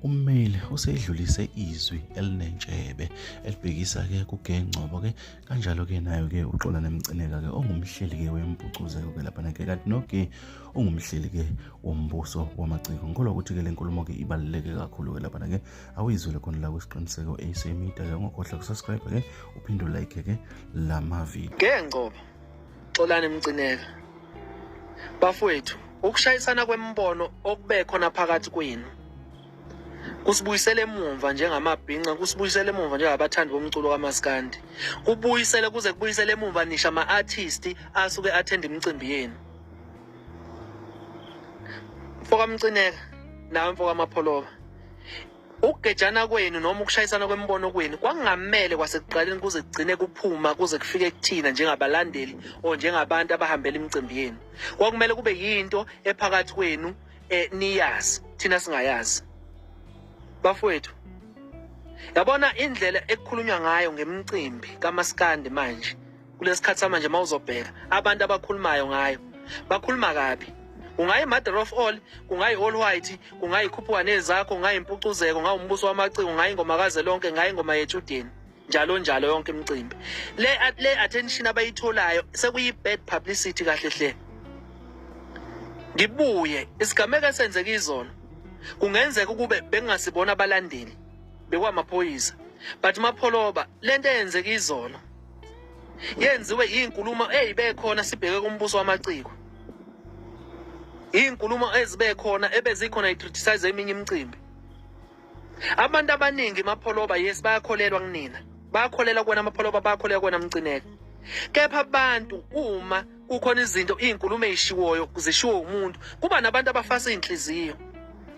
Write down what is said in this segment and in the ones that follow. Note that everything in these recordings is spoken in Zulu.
ummeli usedlulise izwi elinentshebe elibhekisa-ke kugengcobo-ke kanjalo-ke nayo-ke uxola nemcineka-ke ongumhleli-ke wempucuzeko-ke laphana-ke kanti noke ungumhleli-ke wombuso wamaciko ngikholwa ukuthi-ke le nkulumo-ke ibaluleke kakhulu-ke laphana-ke awuyizwele khona la kwisiqiniseko ac media-ke ungakhohlwa kusubscribe-ke uphinde ulike-ke la mavidiyo gengcobo Xolani Mcineka. Bafowethu, ukushayisana kwemibono okube khona phakathi kwenu kusibuyisele emumva njengamabhinca kusibuyisele emumva njengabathandi bomculo kamaskandi kubuyisele kuze kubuyisele emumva nisha ama-artist asuke athenda imicimbi yenu mfokamcineka nawe mfokamapholoba Ukugejana kwenu noma ukushayisana kwemibono kwenu kwakungamele kwasekuqaleni kuze kugcine kuphuma kuze kufike kuthina njengabalandeli or njengabantu abahambela imicimbi yenu. Kwakumele kube yinto ephakathi kwenu eh, niyazi thina singayazi. Bafowethu yabona indlela ekukhulunywa ngayo ngemicimbi kamaskandi manje kulesikhathi samanje mawuzobheka abantu abakhulumayo ngayo bakhuluma kabi kungayi mother of all kungayi all white kungayi khuphuwane zakho kungayi impucuzeko ngayi umbuso wamaciko ngayi ingoma kaze lonke ngayi ingoma yetshudeni njalo njalo yonke imicimbi le le attention abayitholayo sekuyi bad publicity kahle hle ngibuye isigameko esenzeka izolo kungenzeka ukube bengasibona abalandeli bekwamaphoyisa but mapholoba lento eyenzeka izolo yenziwe izinkulumo ezibekhona sibheke kumbuso wamaciko izinkulumo ezibekhona ebezikhona i-criticize eminye imicimbi abantu abaningi mapholoba yes bayakholelwa kunina bayakholelwa kuwena mapholoba bayakholelwa kuwena mcineka kepha abantu uma kukhona izinto iy'nkulumo ey'shiwoyo zishiwo umuntu kuba nabantu abafasa iy'nhliziyo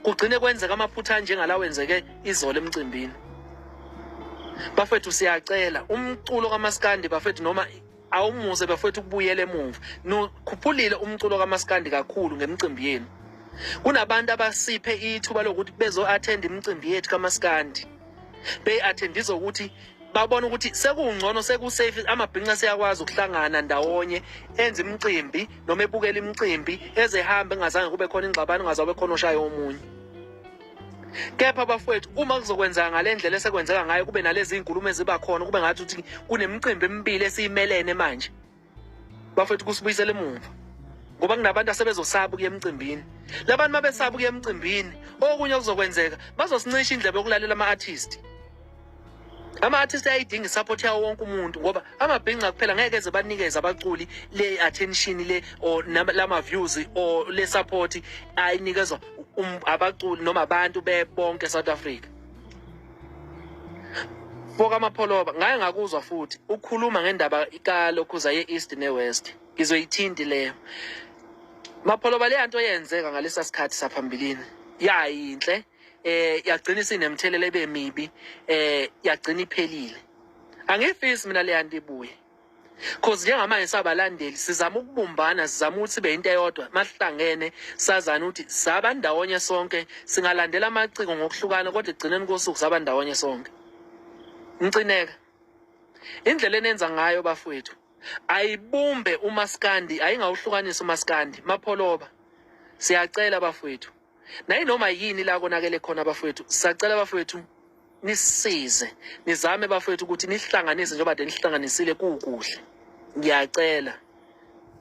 kugcine kwenzeka amaphutha anjengala wenzeke izolo emcimbini bafethu siyacela umculo kamaskandi bafethu noma awumuze bafethu ukubuyela emuva nokhuphulile umculo kamaskandi kakhulu ngemicimbi yenu kunabantu abasiphe ithuba lokuthi bezo-attend imicimbi yethu kamaskandi be attendise ukuthi babona ukuthi sekungcono sekusafe amabhinca seyakwazi ukuhlangana ndawonye enze imicimbi noma ebukele imicimbi ezehambe engazange kube khona ingxabano ngazabe khona oshaye omunye kepha bafowethu uma kuzokwenzeka ngale ndlela esekwenzeka ngayo kube nalezi nkulumo eziba khona kube ngathi ukuthi kunemicimbi emibili esiyimelene manje bafethu kusibuyisela emuva ngoba kunabantu asebezosaba ukuya emcimbini labantu mabesaba ukuya emcimbini okunye okuzokwenzeka bazosincisha indlebe yokulalela ama-artist ama-artist ayayidinga isupport yawo wonke umuntu ngoba amabhinca kuphela ngeke eze banikeze abaculi le-attention le or lama-views or le-support ayinikezwa um, abaculi noma abantu bebonke e-south africa Foka Mapholoba ngaye ngakuzwa futhi ukhuluma ngendaba kalokhuza ye-east ne-west ngizoyithinti leyo Mapholoba leya nto yenzeka ngalesa sikhathi saphambilini yayinhle eh yagcina isinemthelela ebemibi eh yagcina iphelile angifisi mina leya nto ibuye cause njengamanje sabalandeli sizama ukubumbana sizama ukuthi sibe into eyodwa masihlangene sazana ukuthi saba ndawonye sonke singalandela amaciko ngokuhlukana kodwa ekugcineni kosuku saba ndawonye sonke mcineka indlela enenza ngayo bafowethu ayibumbe umaskandi ayingawuhlukanisa umaskandi mapholoba siyacela bafowethu nayinoma yini la konakele khona abafowethu sacela abafowethu nisize nizame bafowethu ukuthi nihlanganise njengoba de nihlanganisile kukuhle ngiyacela